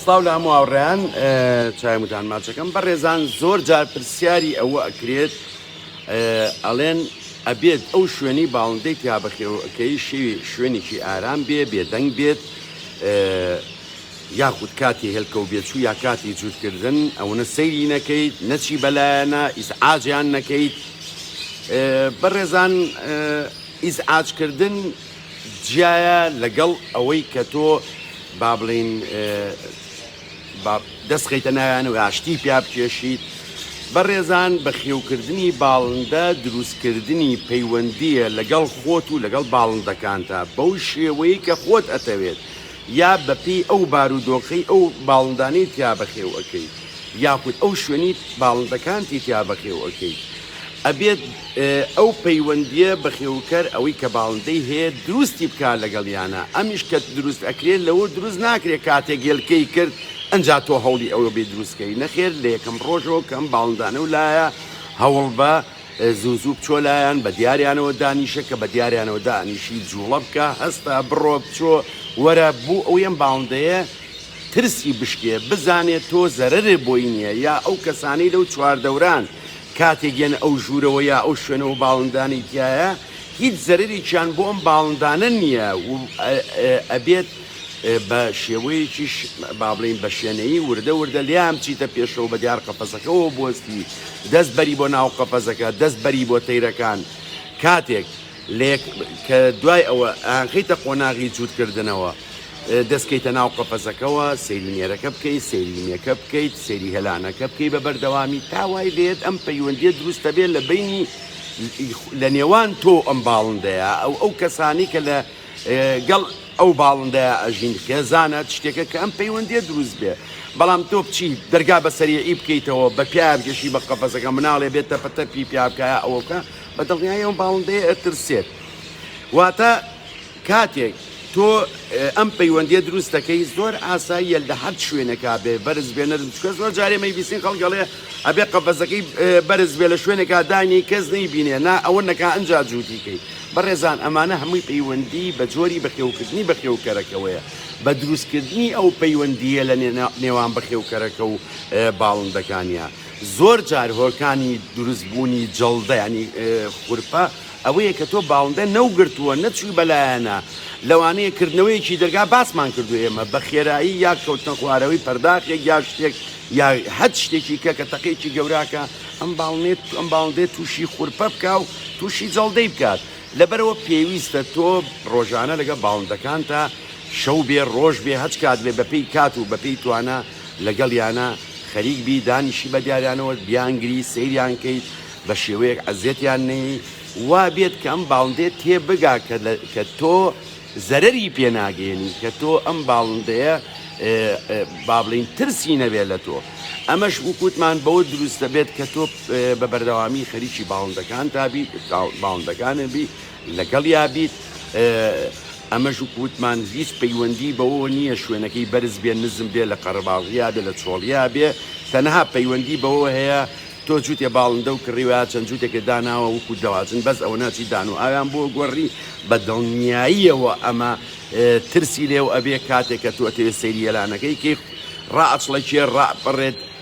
سڵاو لە هەموو هاوڕێیان چایمتان ماچەکەم بە ڕێزان زۆر جار پرسیاری ئەوە ئەکرێت ئەڵێن ئەبێت ئەو شوێنی باڵندەی تیا بەخێوەکەی شێوی شوێنێکی ئارام بێ بێدەنگ بێت یاخود کاتی هێلکە و بێچوو یا کاتی جووتکردن ئەوەنە سەیری نەکەیت نەچی بەلایەنە ئیسعاجیان نەکەیت بەڕێزان ئیسعاجکردن جیایە لەگەڵ ئەوەی کە تۆ با بڵێین با دەست خەیتە ناویانە و ئاشتی پیا بکێشیت بەڕێزان بەخێوکردنی باڵندە دروستکردنی پەیوەندیە لەگەڵ خۆت و لەگەڵ باڵندەکانتە بەو شێوەیە کە خۆت ئەتەوێت یا بەپێی ئەو بارودۆخەی ئەو باڵندانەی تیا بەخێو ئەەکەیت یاخود ئەو شوێنی باڵندەکانتی تیا بەخێو ئەەکەیت ئەبێت ئەو پەیوەندیە بەخێوکەر ئەوەی کە باڵندەی هەیە دروستی بکات لەگەڵیانا ئەمیش کە دروست ئەکرێت لەوە دروست ناکرێت کاتێک گێلکەی کرد ئەجا تۆ هەوڵی ئەوە بێ دروستکەی نەخێر لە یەکەم ڕۆژەوە کەم باڵندانە و لایە هەوڵ بە زوو زوو بچۆ لایەن بە دیاریانەوە دانیشە کە بە دیاریانەوە دانیشی جوڵە بکە هەستا بڕۆ بچۆ وەرە بوو ئەو یەم باڵندەیە ترسی بشکێ بزانێت تۆ زەرەرێ بۆی نییە یا ئەو کەسانی لەو چواردەوران کاتێک یەنە ئەو ژوورەوە یا ئەو شوێنەوە باڵندانەی تیایە هیچ زەرەرێکیان بۆ ئەم باڵندانە نییە و ئەبێت بە شێوەیەکیش با بڵین بە شوێنەی وردە وردە لیان بچیتە پێشەوە بە دیار قەپەزەکەەوە بستی دەست بەری بۆ ناو قەپەزەکە دەست بەری بۆ تەیرەکان کاتێک لێک کە دوای ئەوە ئەیانخەیتە قۆناغی جووتکردنەوە، دەستکەیتە ناو قەفەزەکەوە، سەیری نێرەکە بکەیت، سەیری مێکە بکەیت، سەیری هێلانەکە بکەیت بە بەردەوامی تا وای لێیەت ئەم پەیوەندییە دروست دەبێت لە بەینی لە نێوان تۆ و ئەم باڵندەیە و ئەو کەسانەی کە لە گەڵ ئەو باڵندەیە ئەژین خێزانە شتێکە کە ئەم پەیوەندییە دروست بێت بەڵام تۆ بچی دەرگا بە سەریعی بکەیتەوە بە پیایا بکێشی بە قەفەزەکە مناڵێ بێت تەپە تەپی پیا بکایە ئەوکە بە دڵنیایی ئەو باڵندەیە ئەترسێت. واتە کاتێک تۆ ئەم پەیوەندیە دروست دەکەی زۆر ئاساییە لە هەر شوێنێکا بێ بەرز بێ نەرم چکە زۆر جارێ مەیبیسین خەڵک گەڵێ ئەبێ قەفەزەکەی بەرز بێ لە شوێنێکا دانی کەس نەیبینێ نا ئەوە نەکا ئەنجا جووتیکەی بەڕێزان ئەمانە هەمووی پەیوەندی بە جۆری بەخێوکردنی بەخێوکەرەکەوەیە بە دروستکردنی ئەو پەیوەندیە لە نێوان بەخێوکەرەکە و باڵندەکانیان. زۆر جار هۆکانی دروست بوونی جەڵدە یانی خورپە ئەوەیە کە تۆ باڵندە نەوگرتووە نەچووی بەلایەنە لەوانەیە کردنەوەیەکی دەرگا باسمان کردو ئێمە بە خێرایی یا کەوتنە خوارەوەی پەرداخێک یا شتێک یا هەت شتێکی کە کە تەقێکی گەوراکە ئەم باڵنێت ئەم باڵندێت تووشی خورپە بکە و تووشی جەڵدەی بکات لەبەرەوە پێویستە تۆ ڕۆژانە لەگە باڵندەکانتە شەو بێ ڕۆژ بێ هەچ کات بێ بەپی کات و بەپی توانە لەگەڵیانا خەریک بی دانیشی بە دیارانەوە بیانگری سەیریان کەیت بە شێوەیەک عەزێتیان نەیەی وا بێت کە ئەم باڵندەیە تێ بگا کە لە کە تۆ زەرەری پێ ناگەیەنی کە تۆ ئەم باڵندەیە با بڵێین ترسی نەبێت لە تۆ ئەمەش وکوتمان بەوە دروست دەبێت کە تۆ بە بەردەوامی خەریکی باڵندەکانتا بی باڵندەکانت بی لەگەڵیا بیت ئەمەش وەکو وتمان هیچ پەیوەندی بەوەوە نییە شوێنەکەی بەرز بێ نزم بێ لە قەرەباڵغیا بێ لە چۆڵیا بێ تەنها پەیوەندی بەوەوە هەیە تۆ جوتێ باڵندەو کڕیوە یا چەند جوتێکێ داناوە وەکو دەواجن بەس ئەوەنا چی دان و ئاویان بۆ گۆڕی بە دڵنیاییەوە ئەمە ترسی لێو ئەبێ کاتێ کە تۆ ئەتەوێ سەیری یەلانەکەی کەی ڕائەچڵەکێ ڕائەپەڕێت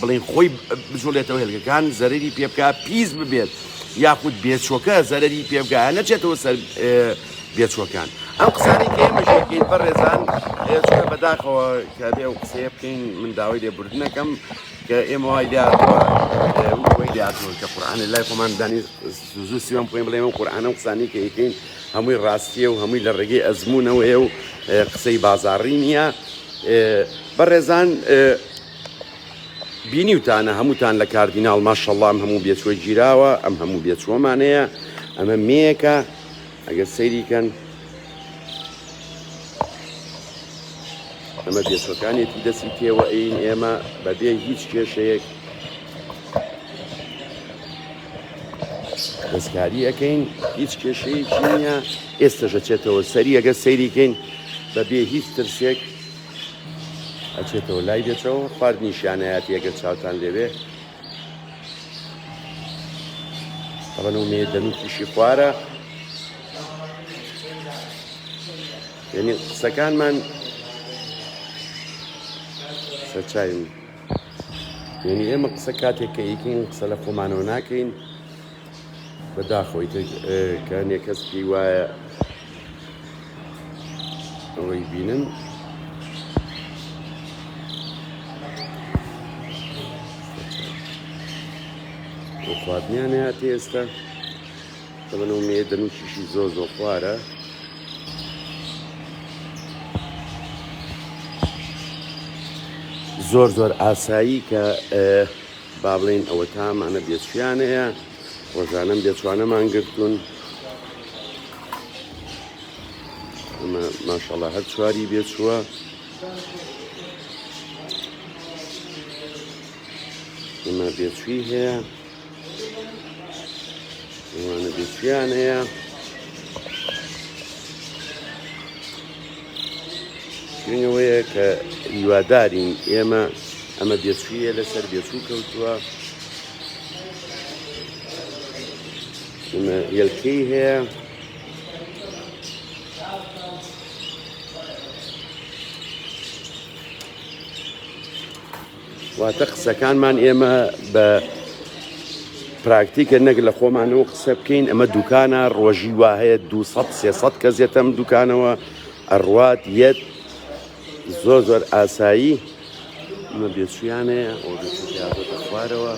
بڵێین خۆی بجوڵێتەوە هێلکەکان زەرری پێبکە پیس ببێت یاخود بێچۆکە زەرری پێبگایە نەچێتەوە سەر بێچوەکان ئەم قسانی کە ئێمەشەکەین بە ڕێزان چونە بەداخەوە کە بێ و قسەیە بکەین من داوای لێ بردنەکەم کە ئێمە وای لاتوە لاتوە کە قورآانە لای خۆمان دانی زوو سیوان بخۆین بڵێ ئەم قورآانە و قسانی کە یکەین هەمووی ڕاستیە و هەمووی لە ڕێگەی ئەزمونونەوەیە و قسەی بازاڕی نییە بەڕێزان بینیوتانە هەمووتان لە کاردیناڵ ماشەڵڵا ئەم هەموو بێچووە گیراوە ئەم هەموو بێچووەمانەیە ئەمە مێیەکە ئەگەر سەیریکەن ئەمە بێچوەکانێتی دەسی تێوە ئەین ئێمە بەبێ هیچ کێشەیەک دەستکاری ئەەکەین هیچ کێشەیەکی نیە ئێستەژەچێتەوە سەری ئەگە سەیریکەین بەبێ هیچ ترسێک ئەچێتەوە لای دەچەوە خواردنی شانایەتی ئەگەر چاوتان لێوێ ئەوەنە و مێ دەنوکیشی خوارە یعنی قسەکانمان سەرچاوین یعنی ئێمە قسە کاتێک کە ئیکین قسە لە خۆمانەوە ناکەین بەداخەوە ئیتر کە هەنێ کەس پێی وایە ئەوەی بینن خواردنیان هاتی ئێستا تەبەنەوە مێ دەنوچیشی زۆ زۆ خوارە زۆر زۆر ئاسایی کە با بڵێین ئەوەتا ئەمانە بێچویانەیە، ڕۆژانەم بێچوانەمان گرتوون. ئەمە ماشەڵا هەر چواری بێچووە. ئەمە بێچوی هەیە. ئەمانە بێچویانەیە. شوێنی ئەوەیە کە هیوادارین ئێمە ئەمە بێچوویە لەسەر بێچوو کەوتووە ئمە یەلکەی هەیە واتە قسەکانمان ئێمە بە پراکتیکە نەک لە خۆمانەوە قسە بکەین ئەمە دوکانە ڕۆژی وا هەیە 200 کەس یەتەم دوکانەوە ئەڕوات یەت زۆر زۆر ئاسایی ئەمە بێچویانەیە خوارەوە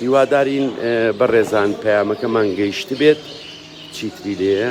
هیوادارین بە ڕێزان پەیامەکەمان گەیشت بێت چیتری لێە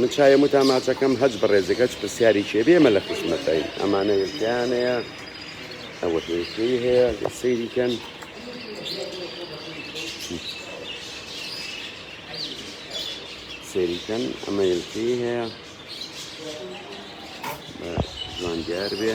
من چایم و تاماچەکەم هەچ بەڕێزێک هەچ پرسیاری چێ بێمە لە خزمەتین ئەمانە هێلکەیان هەیە ئەوە هێلکەی هەیە سەیریکەن سەیریکەن ئەمە هێلکەی هەیە جوان دیار بێ